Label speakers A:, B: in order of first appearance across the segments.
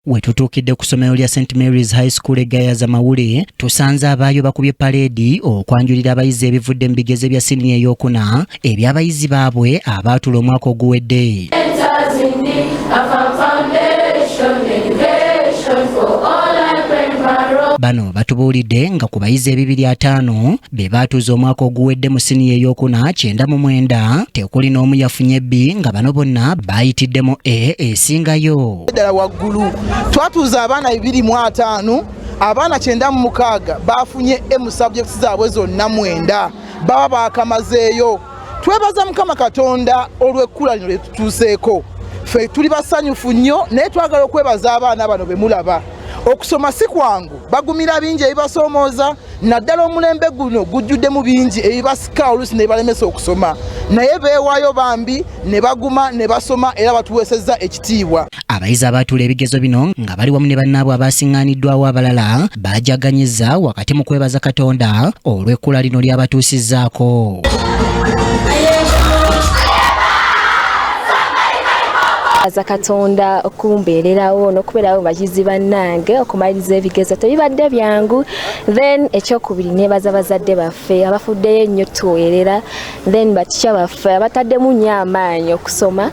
A: Wetutuukidde ku ssomero lya St Mary's High School egayaza mawule tusanze abaayo bakubye paleedi okwanjulira abayizi ebivudde mu bigezo bya siniya eyokuna eby'abayizi baabwe abaatula omwaka oguwedde bano batubuulidde nga ku bayizi ebibiri ataano be baatuuza omwaka oguwedde mu siniya eyokuna kyenda mu mwenda tekuli n'omu yafunye bbi nga bano bonna baayitiddemu e esingayo ddala waggulu
B: twatuuza abaana bibiri mu ataano abaana kyenda mu mukaaga baafunye emu sabjekiti zaabwe zonna mwenda baba baakamazeeyo twebaza mukama katonda olw'ekkula lino lye tutuuseeko ffe tuli basanyufu nnyo naye twagala okwebaza abaana bano be mulaba okusoma si kwangu bagumira bingi ebibasoomooza naddala omulembe guno gujjuddemu bingi ebibasika oluusi ne balemesa okusoma naye beewaayo bambi ne baguma ne basoma era batuweesezza ekitiibwa abayizi abaatuula
A: ebigezo bino nga bali wamu ne bannaabwe abaasiŋŋaaniddwawo abalala baajaganyiza wakati mu kwebaza katonda olw'ekkula lino ly'abatuusizzaako
C: aza katonda okumbeererawo n'okubeerawo bayizi bannange okumaliriza ebigezo tebibadde byangu then ekyokubiri nebaza bazadde baffe abafuddeyo ennyo tuweerera then batikya baffe abataddemu nnyo amaanyi okusoma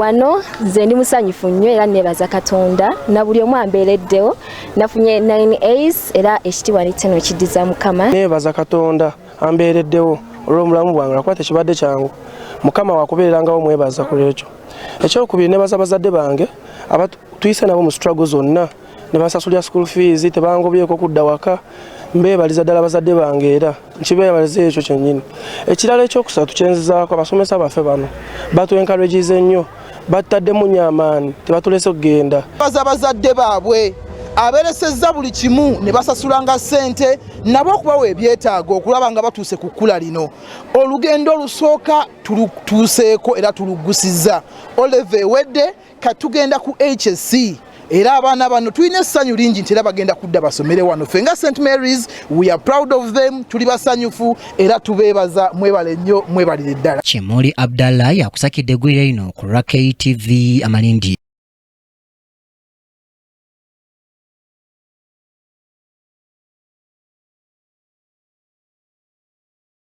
C: wano nze ndi musanyufu nnyo era nebaza katonda na buli omu ambeereddewo nafunye 9 as era ekitiibwa ne kino kiddiza mukama nebaza katonda
D: ambeereddewo olw'omulamu bwange lwakuba tekibadde kyangu mukama wakubeerangawo mwebaza ku lwekyo ekyokubiri nebaza bazadde bange abatuyise nabo mu struggle zonna nebasasulira school fees tebangobyeko kudda waka mbeebaliza ddala bazadde bange era nkibeebaliza ekyo kyennyini ekirala ekyokusatu kyenzizaako abasomesa baffe bano batu encourages ennyo battaddemu nyo amaani tebatulese okugenda baza bazadde
B: baabwe aberesezza buli kimu ne basasulanga ssente nabo okubawa ebyetaago okulaba nga batuuse ku kkula lino olugendo olusooka tulutuuseeko era tuluggusizza oleva ewedde katugenda ku hsc era abaana bano tulina essanyu lingi nti era bagenda kudda basomere wano ffe nga st marys we are proud of them tuli basanyufu era tubeebaza mwebale nnyo mwebalire ddala
A: kimuli abdallah yakusakidde eggwira
B: lino
A: ku lwa ktv amalindi